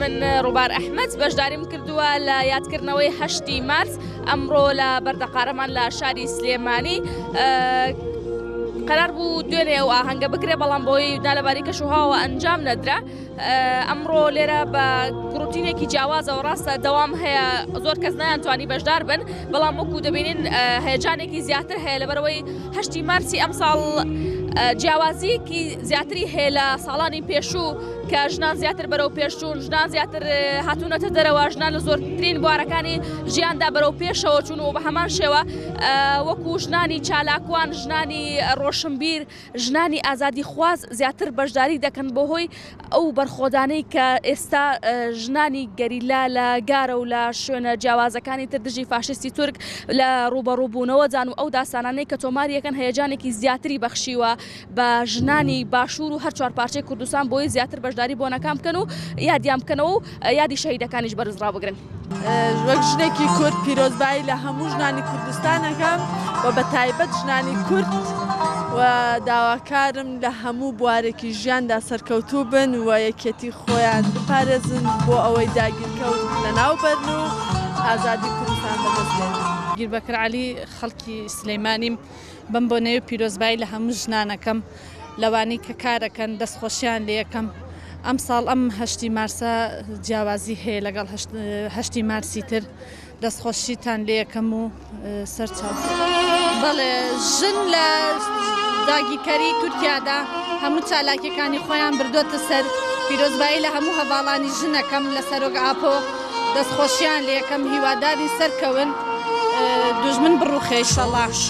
من ڕووبار ئەحمەد بەشداریم کردووە لە یادکردنەوەی هەشتی مارس ئەمڕۆ لە بەردەقارەمان لە شاری سلێمانی قرار بوو دوێنێ و ئاهەنگە بکرێ بەڵام بۆی نالەباری کەش وهاوە ئەنجام نەدرا ئەمڕۆ لێرە بە گروتینێکی جیاوازەوە ڕاستە دەوام هەیە زۆر کەس نیانتوانی بەشدار بن بەڵام وەکو دەبینین هەیەجانێکی زیاتر هەیە لەبەرەوەی هەشتی مارسی ئەمساڵ جیاوازیەکی زیاتری هەیە لە ساڵانی پێشوو کە ژنان زیاتر بەرەو پێشچوون ژنان زیاتر هاتوونەتە دەرەوە ژنان لە زۆرترین بوارەکانی ژیاندا بەرەو پێشەوە چون و بە هەمان شێوە وەکو ژنانی چالاکوان ژنانی ڕۆشنبیر ژنانی ئازادی خواز زیاتر بەشداری دەکەن بۆ هۆی ئەو بەرخۆدانەی کە ئێستا ژنانی گەریلا لە گارە و لە شوێنە جیاوازەکانی تر دژی فاشیستی تورک لە ڕووبەڕووبوونەوەدان و ئەو داستانانەی کە تۆماری یەکەن هەیەجانێکی زیاتری بەخشیوە بە ژنانی باشوور و هەر چوار پارچەی کوردستان بۆی زیاتر بەشداری بۆنەکان بکەن و یادیان بکەنەوە و یادی شەهیدەکانیش بەرز ڕابگرن. وەک ژنێکی کورد پیرۆزبایی لە هەموو ژنانی کوردستانەکەم و بە تایبەت ژنانی کورد و داواکارم لە هەموو بوارێکی ژیاندا سەرکەوتوو بن و یەکێتی خۆیان بپارێزن بۆ ئەوەی داگیرکەوت لەناو بەرن و ئازادی کوردستان بەدەستێن. گیربەکر عەلی خەڵکی سلیمانیم. بەم بۆنەیەو پیرۆزبایی لە هەموو ژنانەکەم لەوانەی کە کارەکەن دەست خۆشیان لێکەم ئەم ساڵ ئەم هەشتی مارسە جیاوازی هەیە لەگەڵ هەشتی مارسی تر دەست خۆشیتان لێکەم و سەرچاو بەڵێ ژن لە داگیرکەری تورکیادا هەموو چالاکیەکانی خۆیان بردوتە سەر پیرۆزبایی لە هەموو هەواڵانی ژنەکەم لە سەرۆک ئاپۆ دەستخۆشیان لەکەم هیواداری سەرکەون دوژمن بڕوخێشەڵاش.